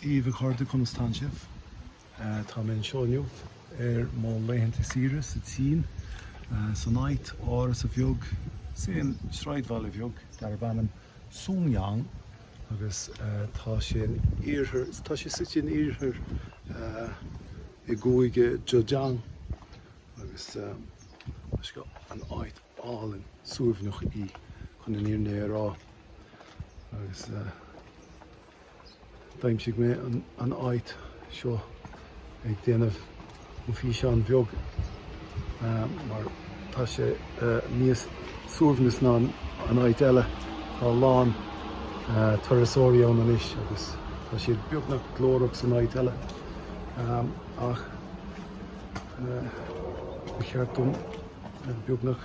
Dia dhaoibh a chairde conas tánn sibh? Tá mé anseo inniu ar mo laethanta saoire sa tSín, san áit áras a bheag san sraidbhaile bheag darb ainm Songjiang agus tá sé in iarthar, tá sé suite in iarthar i gcúige Zhejiang agus is é an áit álainn suaimhneach í chun an fhírinne a rá. agus d'aimsigh mé an áit seo ag déanamh an físeán bheag mar tá sé níos suaimhneas ná an áit eile, tá a lán turasóirí ann anois agus tá siad beagnach glórach san áit eile ach ba cheart dom beagnach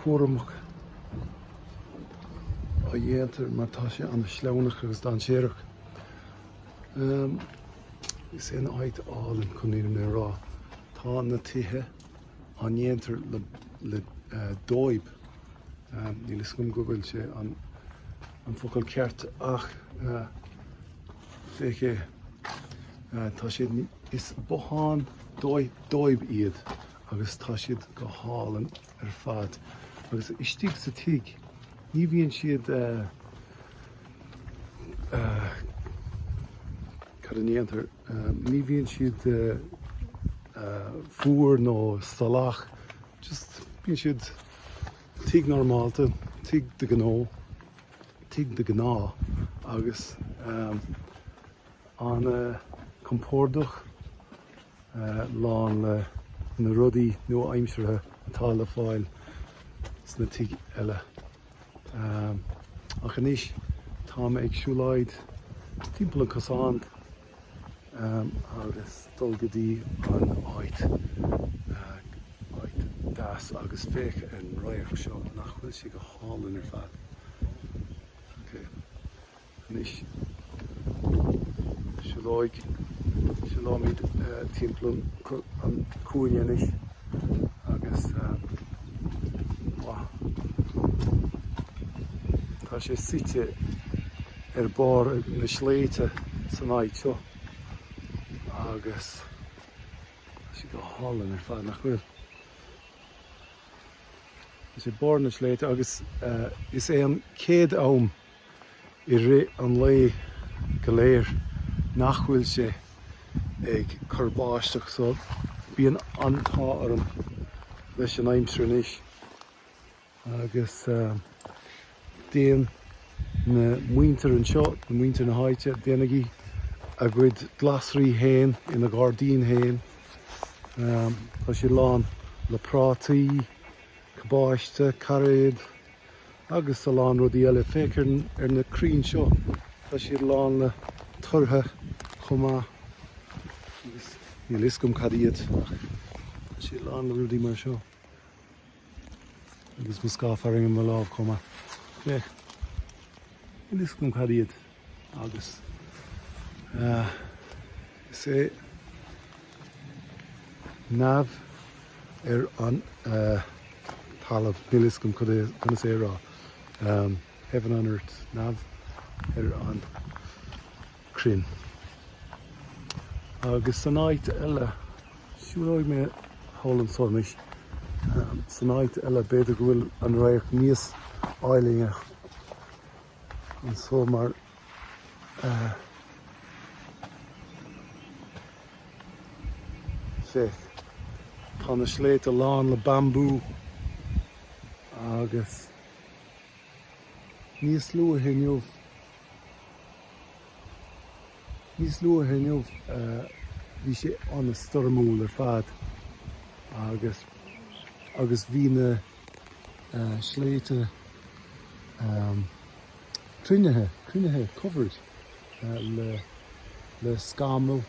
cúramach a dhéantar mar tá sé an-shleamhnach agus dainséarach. Is é an áit álainn chun an fhírinne a rá. Tá na tithe á ndéantar le dóib. Níl fhios agam go bhfuil sé an focal ceart ach féach. Tá siad is bothán dóib iad agus tá siad go hálainn ar fad agus istigh sa tigh ní bhíonn siad eh, eh, cad a ndéantar eh, ní bhíonn siad eh, eh, fuar nó salach just bíonn siad tigh normálta tigh de ghnó tigh de ghnáth agus eh, ana-chompordach lán le na rudaí nua-aimseartha atá le fáil sna tigh eile. Ach anois tá mé ag siúlóid timpeall an cosán agus dul go dtí an áit áit deas agus féach ar an radharc seo nach bhfuil sé go hálainn ar fad. Ok. Anois siúlóid, siúlóimid timpeall an cúinne anois agus tá sé suite ar barr na sléibhte san áit seo agus tá sé go hálainn ar fad nach bhfuil? Tá sé barr na sléibhte agus is é an chéad am i rith an lae go léir nach bhfuil sé ag cur báisteach so bíonn an t-ádh orm leis an aimsir anois agus déan na muintir anseo, na muintir na háite, déanann siad a gcuid glasraí fhéin ina gairdín fhéin tá sé lán le prátaí, cabáiste, cairéad. Agus a lán rudaí eile. Féach ar na crainn seo. Tá siad lán le tortha chomh maith. Agus níl fhios agam cad iad ach tá siad lán le rudaí mar seo. Agus mo scáth fearthainne i mo lámh chomh maith. Féach. Níl fhios agam cad iad. Agus is é neamh ar an talamh, níl a fhios agam conas é a rá, heaven on earth, neamh ar an cruinne. Agus san áit eile, siúlóidh mé thall ansan, san áit eile b'fhéidir go bhfuil an radharc níos áilinne. Anso mar féach. Tá na sléibhte lán le bambú agus níos luaithe inniu níos luaithe inniu bhí sé an-stoirmiúil ar fad agus agus bhí na sléibhte cruinnithe, cruinnithe covered le scamall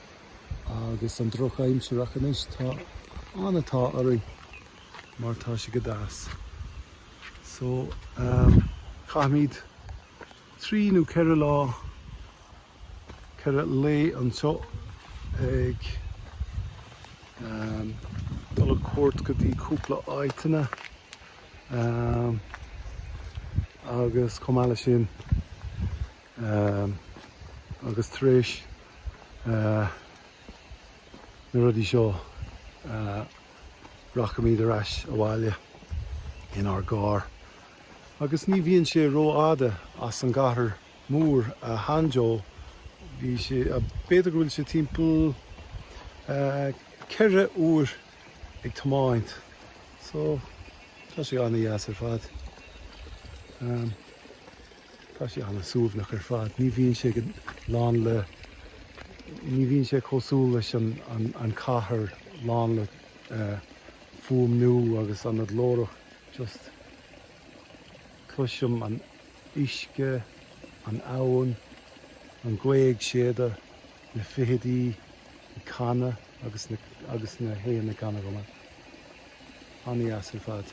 agus an drochaimsir ach anois tá an t-ádh orainn mar tá sé go deas. So caithfimid trí nó ceithre lá 4 lae anseo ag dul ar cuairt go dtí cúpla áiteanna agus chomh maith leis sin agus tar éis na rudaí seo rachaimid ar ais abhaile inár gcarr agus ní bhíonn sé rófhada as an gcathair. Mór, a Hanjo. Bhí sé, b'fhéidir go bhfuil sé timpeall ceithre uair ag tiomáint, so tá sé an-deas ar fad. Tá sé an-suaimhneach ar fad, ní bhíonn sé lán le, ní bhíonn sé cosúil leis an cathair lán le fuaimniú agus an-ghlórach, just cloisim an. uisce, an abhainn, an ghaoth ag séideadh, na feithidí ag canadh agus na héin ag canadh chomh maith. An-dheas ar fad.